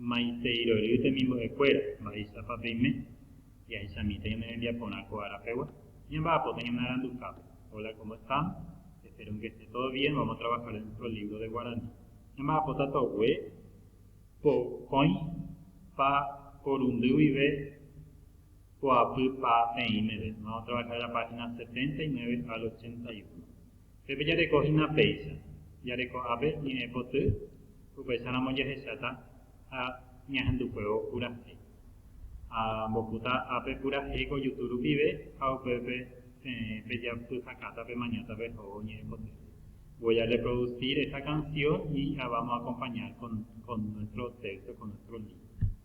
Maiteirory temimbo'ekuéra, mba'éichapa peime? Jahechamíta ñane rembiaporã ko ára pegua, ñamba'apóta ñane arandukápe. Hola, cómo están? Espero que esté todo bien, vamos a trabajar en nuestro libro de guaraní. Ñamba'apóta togue pokõi pa porundy guive poapy pa peĩ meve. Vamos a trabajar la página 79 al 81. Pepe jareko hína péicha, jareko ápe ñe'ẽ poty, upéicharamo jahecháta ha ñahendukuévo purahéi. Ha ambopúta ápe purahéi ko jutu rupive ha upépe peẽ pejapyhakáta pemañáta pehóvo ñe'ẽ poty. Voy a reproducir esta canción y la vamos a acompañar con nuestro texto, con nuestro libro.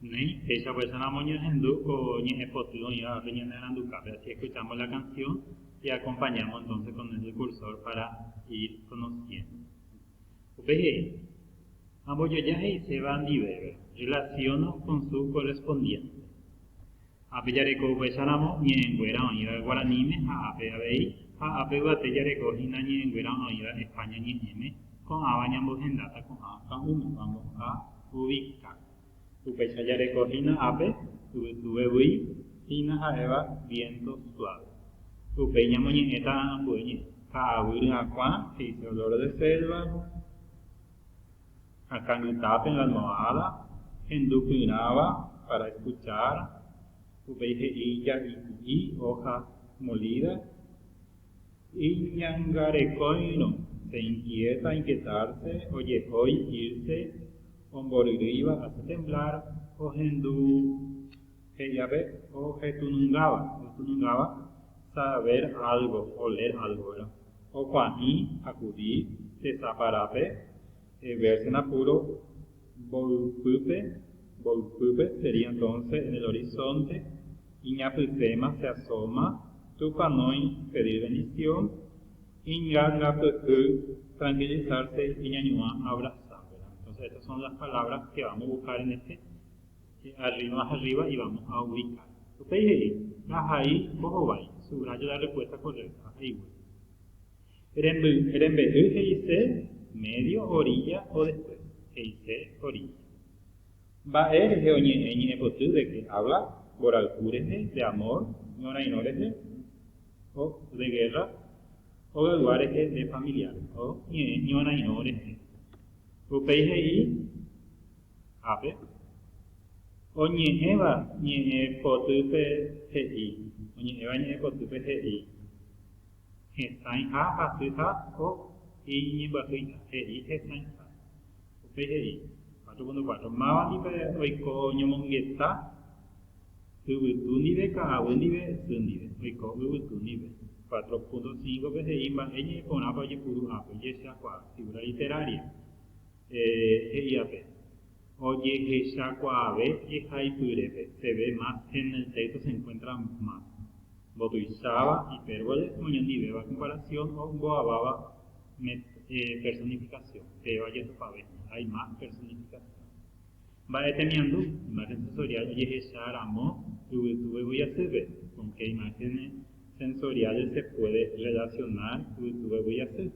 Néi, péicha pues ramo oñohendu ko ñe'ẽ poty oĩva pe ñane arandukápe, asi escuchamos la canción y acompañamos entonces con el cursor para ir conociendo. Upe he'i, Ambojoja he'iséva ndive, relaciono con su correspondiente. Ápe jareko upéicharamo ñe'ẽnguéra oĩva guaraníme ha ápe avei, ha ápe yvate jareko hína ñe'ẽnguéra oĩva España ñe'ẽme, ko'ãva ñambohendáta ko'ã ka'ũmema mbo'ha Ubica. Upéicha jareko hína ápe yvytuvegui hína ha'éva viento suave. Upéi ñamoñe'ẽta ambue ñe'ẽ. Ka'aguy ryakuã, he'ise olor de selva. akãngyta pe lanoáda hendu pyrãva para escuchar, upéi he'i ja'i ku'i, hoja molida, Iñangarekóirõ, se inquieta inquietarse, ojehói irse, omboryrýiva hace temblar, ohendu He'iápe ojetunungáva, ojetunungáva saber algo, oler algo, ¿verdad? Okua'i, acudir, se saparápe, verse en apuro, mboypýpe, mboypýpe sería entonces en el horizonte, iñapysẽma, se asoma, tupanói, pedir bendición, ingangapyhy, tranquilizarse, iñañuã, abrazar, ¿verdad? Entonces estas son las palabras que vamos a buscar en este che arriba arriba y vamos a ubicar upéi he'i ndahai mbohovái subrayo la respuesta correcta ahaigue remby rembe'y he'ise medio orilla o después he'ise orilla mba'e rehe oñe'ẽ ñe'ẽpoty de que habla mborayhu rehe de amor ñorairõ rehe o de guerra hogaygua rehe de familiar o ñe'ẽ ñorairõ rehe upéi he'i ápe, oñe'ẽva ñe'ẽ potýpe he'i, oñe'ẽva ñe'ẽ potýpe he'i, hesãiha hasy ha o iñimbyasýiha, he'i hesãiha, upéi he'i, cuatro punto cuatro, máva ndive oiko ñomongeta yvytu ndive, ka'aguy ndive, sy ndive, oiko yvytu ndive, cuatro punto cinco pe he'i mba'e ñe'ẽ porãpa ojepuru ápe, ojehechakuaa, figura literaria. he'iape, Ojehechakuaave jehaipyrépe, peve más en el texto se encuentra más. Mbotuicháva, hipérbole, oñondivéva comparación o mboaváva personificación, péva jetupave, hay más personificación. Mba'e temiandu, imagen sensorial ojehecha ramo yvytu vevýi asýpe, con qué imágenes sensoriales se puede relacionar yvytu vevýi asy,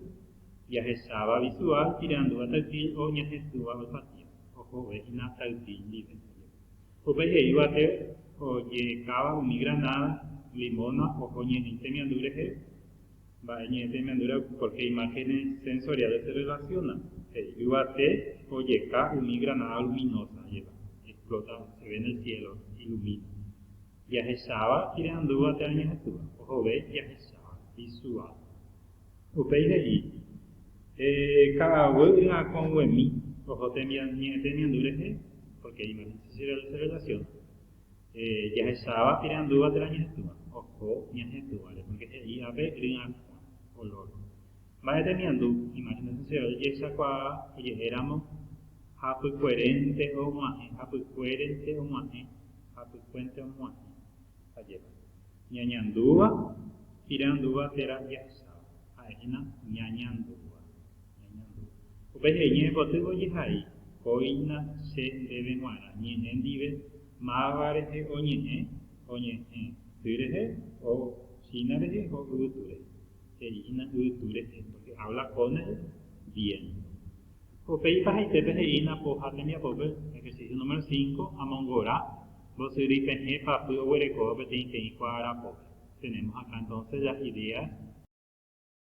Jahesáva visual iperandúva taypy o ñahetúva oipatía, ohovẽ hína taypy ndive ndajépe. Upe he'íva té oje'ekáva umi granáda, limóna oho ñe'ẽ temiandu rehe, mba'e ñe'ẽ temiandúre porque hay imágenes sensoriales se relacionan, he'íva té ojeka umi granada luminosa jepa, explota, se ve en el cielo, ilumina. Jahesáva iperandúva térã ñahetúva, ohove jahesáva visual. Upéi he'i, Heẽ, ka'aguy yvakõguemi oho tembiañe'ẽ temiandu rehe, pórke imáhense che rrevelasión, jahecháva irandúva térã ñahetũva, oho ñahetũvare, pórke he'i ápe ryakõa, olór. Mba'e temiandu imáhense che ojehechakuaa oje'éramo hapykuerénte og̃uahẽ, hapykuérente og̃uahẽ, hapykuénte og̃uahẽ, ajépa. Ñañandúva, irandúva térã jahesáva, ha'e hína ñañandúva, ñañandúva. Upe je'e ñe'ẽpotývo jehai, kóina che ndéve g̃uarã ñe'ẽ ndive, máva rehe oñe'ẽ, oñe'ẽ, ty rehe, o hína rehe, o yvytu rehe. He'i hína yvytu rehe, pórke hábla con el viénto. Upéi pahaitépe he'ína po ha tembiapópe, ejercicio número cinco, amongora. Mbosyry pehẽ papy oguerekóva peteĩteĩ kuaarapópe. Tenemos acá entonces las ideas.